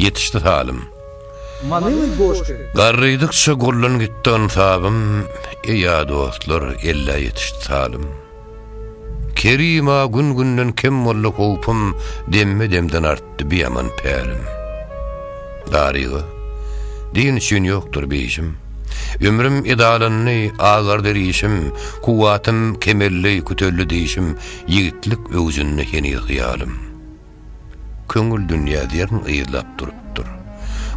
Ýetişdi salym. Manyly goşgy. Garrydykça gurlan gitdi ynsabym, Eýa dostlar, ellä ýetişdi salym. Kerim-a gün-günden kem boldy howpum, Demme-demden artdy biaman pälim. Daryga, din üçin ýokdur beýşim, Ömrüm edalandy, agardy rişim, Kuwwatym kemeldi, küteldi dişim, Ýigitlik öwjünde heniz hyýalym. Köňül dünýä zerrin yzlap durupdyr.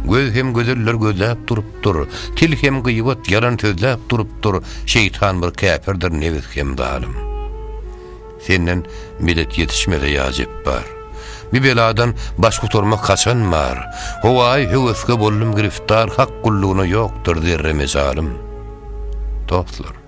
Göz hem gözeller gözläp durupdyr. Til hem gyýbat, ýalan sözläp durupdyr. Şeýtan bir käpirdir, nebis hem zalym. Senden medet ýetişmese ýa Jepbar. Bu beladan baş gutarmak haçan bar? Howaý, höweske boldum giriftar, hak gullugyna ýokdur zerre mejalym. Dostlar.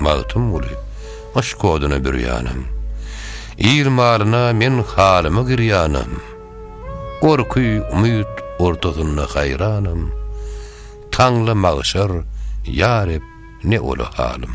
Magtymguly, gyş koduna bürýänem. Il malyna men halyma girýänem. Gorky, umyt ortasynda haýranam. Taňla magşar, ýa Reb, ne ola halym.